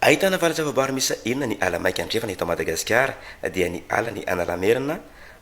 Ahitana valo zava-boary miisa enina ny ala maika andrefana eto Madagasikara, dia ny alan'i Analamerina,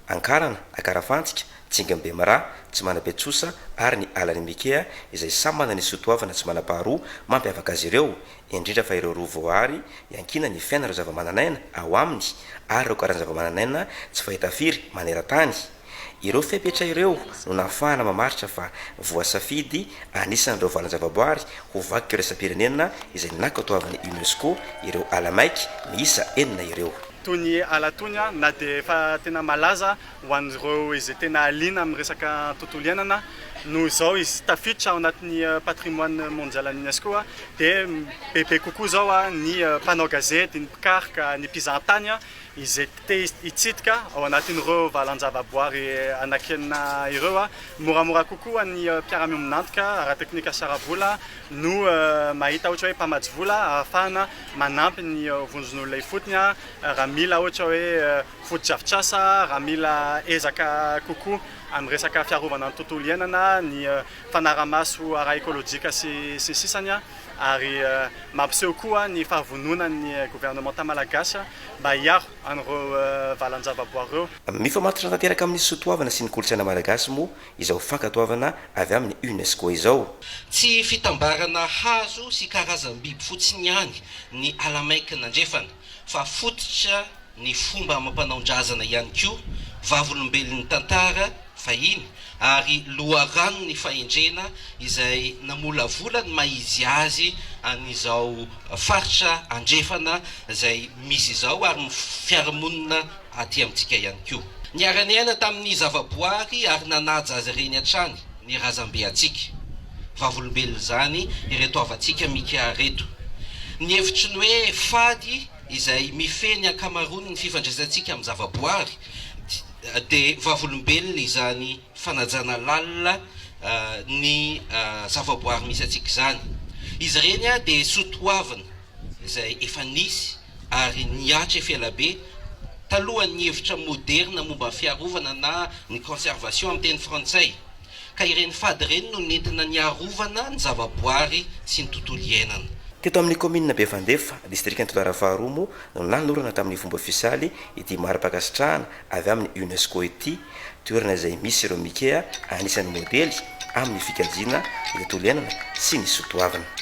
Ankarana, Akarafantsika, Tsingin'i Bemaraha, Tsimanabe-Tsosa ary ny alan'i Mikea izay samy manana ny soatoavina tsy manam-paharoa mampiavaka azy ireo, indrindra fa ireo roa voaary iankinan'ny fiainan'ireo zavamananaina ao aminy ary ireo karazana zavamananaina tsy fahita firy maneran-tany. Ireo fepetra ireo no nahafahana mamaritra fa voasafidy anisan'ireo valan-javaboary ho vakoka iraisam-pirenena izay nankatoavin'ny UNESCO ireo ala maiky miisa enina ireo. Toy ny ala toy ny, na dia efa tena malaza ho an'ireo izay tena liana amin'ny resaka tontolo iainana, noho izao izy tafiditra ao anatin'ny patrimoine mondial an'ny UNESCO dia bebe kokoa izao ny mpanao gazety, ny mpikaroka, ny mpizahatany izay te hitsidika ao anatin'ireo valan-javaboary anankenina ireo, moramora kokoa ny mpiara-miombon'antoka ara-teknika sy ara-bola no mahita ohatra hoe mpamatsy vola ahafahana manampy ny vondron'olona ifotony raha mila ohatra hoe fotodrafitrasa, raha mila ezaka kokoa amin'ny resaka fiarovana ny tontolo iainana, ny fanarahamaso ara-ekolojika sy ny sisa Ary mampiseho koa ny fahavononan'ny governemanta malagasy. mba hiaro an'ireo valan-javaboary ireo. Mifamatotra tanteraka amin'ny soatoavina sy ny kolontsaina malagasy moa izao fankatoavana avy amin'ny UNESCO izao. Tsy fitambarana hazo sy karazam-biby fotsiny ihany ny Alamein-k'i Nandrefana fa fototra ny fomba amam-panaon-drazana ihany koa, vavolombelon'ny tantara, fahiny ary loharanon'ny fahendrena izay namolavola ny maha izy azy an'izao faritra andrefana izay misy izao ary ny fiarahamonina aty amintsika ihany koa. Niara-niaina tamin'ny zavaboary ary nanaja azy ireny hatrany ny razambe antsika. Vavolombelona izany ireto havantsika Mika ireto. Ny hevitry ny hoe fady izay mifehy ny ankamaroan'ny fifandraisantsika amin'ny zavaboary dia. dia vavolombelona izany fanajana lalina ny zavaboary misy antsika izany. Izy ireny dia soa toavina izay efa nisy ary nihatref ela be talohan'ny hevitra moderina momba ny fiarovana na ny conservation amin'ny teny frantsay. ka ireny fady ireny no nentina niarovana ny zavaboary sy ny tontolo iainana. Teto amin'ny kaominina Bevandefa, distrikan'i Toliara Faharoa moa no nanorana tamin'ny fomba ofisialy ity mari-pankasitrahana avy amin'ny UNESCO ity, toerana izay misy ireo Mikea anisan'ny modely amin'ny fikajiana ny tontolo iainana sy ny soa toavina.